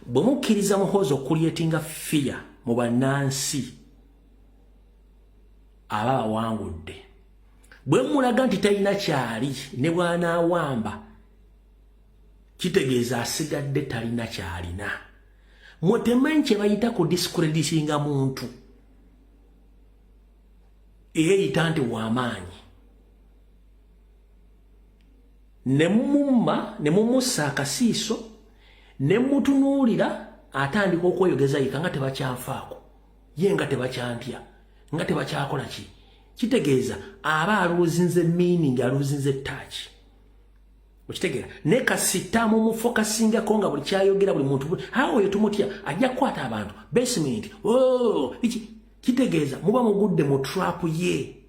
bwe mukkiriza muhoozi okukulyetinga fiya mu bannansi aba bawangudde bwe mulaga nti talina kyali ne bwanaawamba kitegeeza asigadde talina kyalina mwe temanyi kye bayita ku discreditinga muntu eyeyita nti wamaanyi ne mumumma ne mumussa akasiiso ne mutunuulira atandika okweyogeza yika nga tebakyanfaako ye nga tebakyantya nga tebakyakola ki kitegeeza aba aluuzinze miiningi aluuzinze taaki okitegeera ne kasita mumufokasingako nga buli kyayogera buli muntu awo oyo tumutya ajja kukwata abantu basement oh, kitegeeza muba mugudde mu trap ye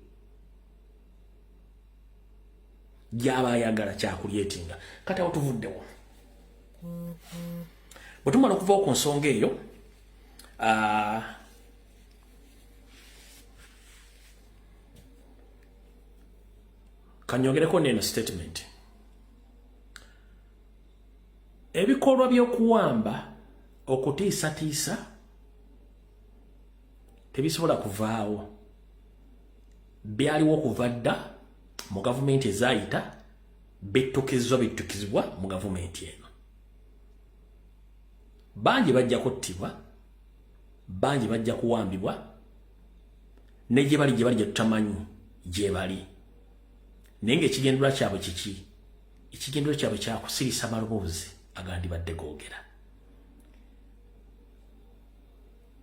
gyaba ayagala kyakulyetinga kati awo tuvuddewo bwe tumala okuvawo ku nsonga eyo ah, kanyogereko neeno statement ebikolwa by'okuwamba okutiisatiisa tebisobola kuvaawo byaliwo okuva dda mu gavumenti ezaayita bittukizibwa bittukizibwa mu gavumenti eno bangi bajja kuttibwa bangi bajja kuwambibwa ne gye bali gye bali gye tutamanyi gye bali naye ng'ekigendera kyabwe kiki ekigendero kyabwe kyakusirisa maloboozi agandibadde googera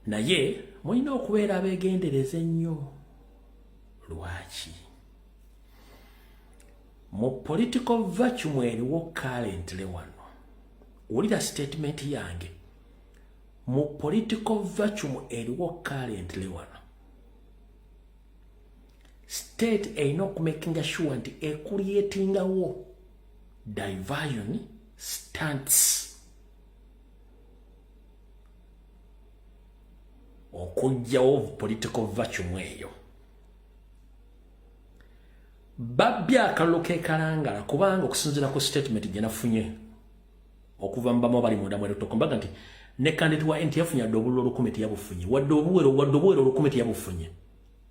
naye mulina okubeera abeegendereza ennyo lwaki mu political vacuum eriwo currently wano wulira statement yange mu political vacuum eriwo currently wano state erina okumakinga sure nti ekuliyetingawo diversion stance okujjawo political vacuum eyo babbye akalulu kekalangala kubanga okusinzira ku statement gyenafunye okuva mubamu abali munda mwerutokombaga nti ne kandidate wa nti yafunye adde obululu olukumi teyabufunye wadde obuwero wadde obuwero olukumi teyabufunye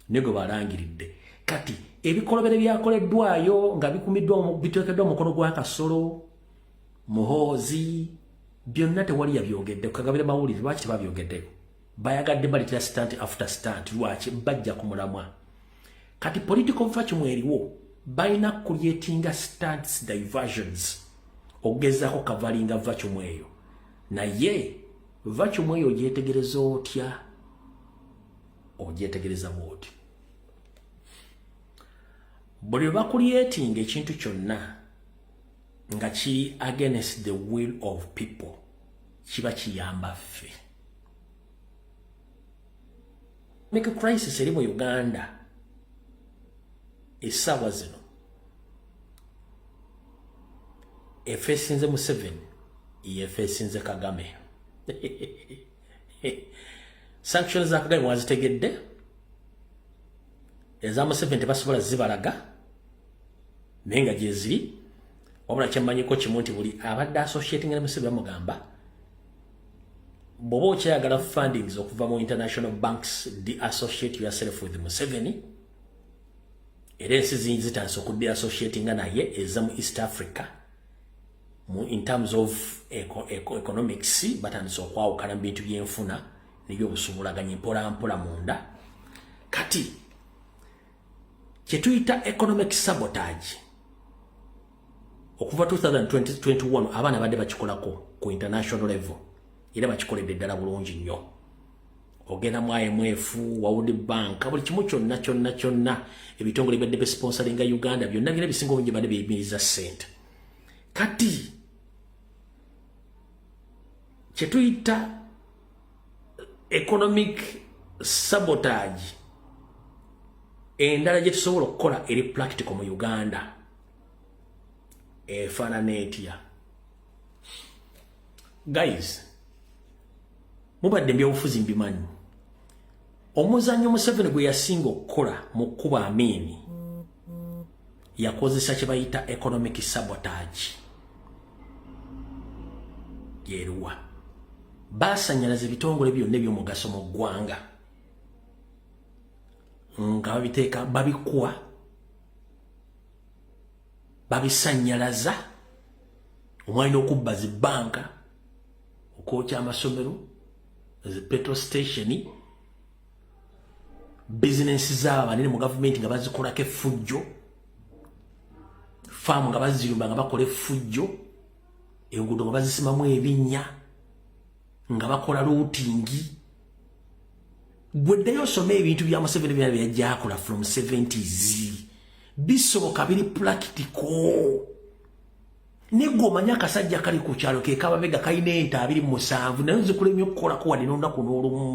naye gwe balangiridde kati ebikolobero byakoleddwayo nga bikumiddwa biteekeddwa omukono gwa kasolo muhoozi byonna tewali yabyogedde kukagabira mawulire lwaki tebabyogeddeko bayagadde baletera stant after stant lwaki bajja ku mulamwa kati political vacuum eriwo balina kulyetinga stants diversions okugezaako kavalinga vacuum eyo naye vacuum eyo ogyetegereza otya ogyetegereza bwoti buli lwe bakulyetinga ekintu kyonna nga kiri against the will of people kiba kiyamba ffe mika crisis eri mu uganda esaawa zino efesinze museveni yefesinze kagame sanctions za kagame wazitegedde eza museveni tebasobola zibalaga naye nga gyeziri wabula kyemmanyiko kimu nti buli abadde associatinga ne museveni bamugamba bwoba okyayagala fundings okuva mu international banks de associate yourself with museveni era ensi zingi zitandise okudde associatinga naye eza mu east africa in terms of economics batandise okwawukana mu bintu byenfuna niyo obusubulaganye mpolampola munda kati kyetuyita economic sabotage okuva 2021 abaana badde bakikolako ku international level era bakikoledde ddala bulungi nnyo ogenda mu imf wawudi banka buli kimu kyonna kyonna kyonna ebitongole byadde besponsoringa uganda byonna byona ebisinga obungi badde biyimiriza sente kati kyetuyita economic sabotage endala gyetusobola okukola eri practical mu uganda efaanana etya guys mubadde mbyobufuzi mbimanyi omuzannyo museveni gwe yasinga okukola mu kkuba amiini yakozesa kye bayita economic sabotage yeruwa baasanyalaza ebitongole byonna ebyomugaso mu ggwanga nga babiteeka babikuwa babisanyalaza omwali n'okubba zi bbanka okwokya amasomero zi petro station bizinensi zaabo banene mu gavumenti nga bazikolako effujjo faamu nga baziyumba nga bakola effujjo enguudo nga bazisimamu ebinnya nga bakola luutingi gwe ddayo osome ebintu bya museveni byona byeyajjakola from 70s bisoboka biri pulakitiko negwe omanyi akasajja kali ku kyalo ke kababega kalina ente abiri mu musanvu naye nzikulemye okukolako wadde n'olunaku n'olumu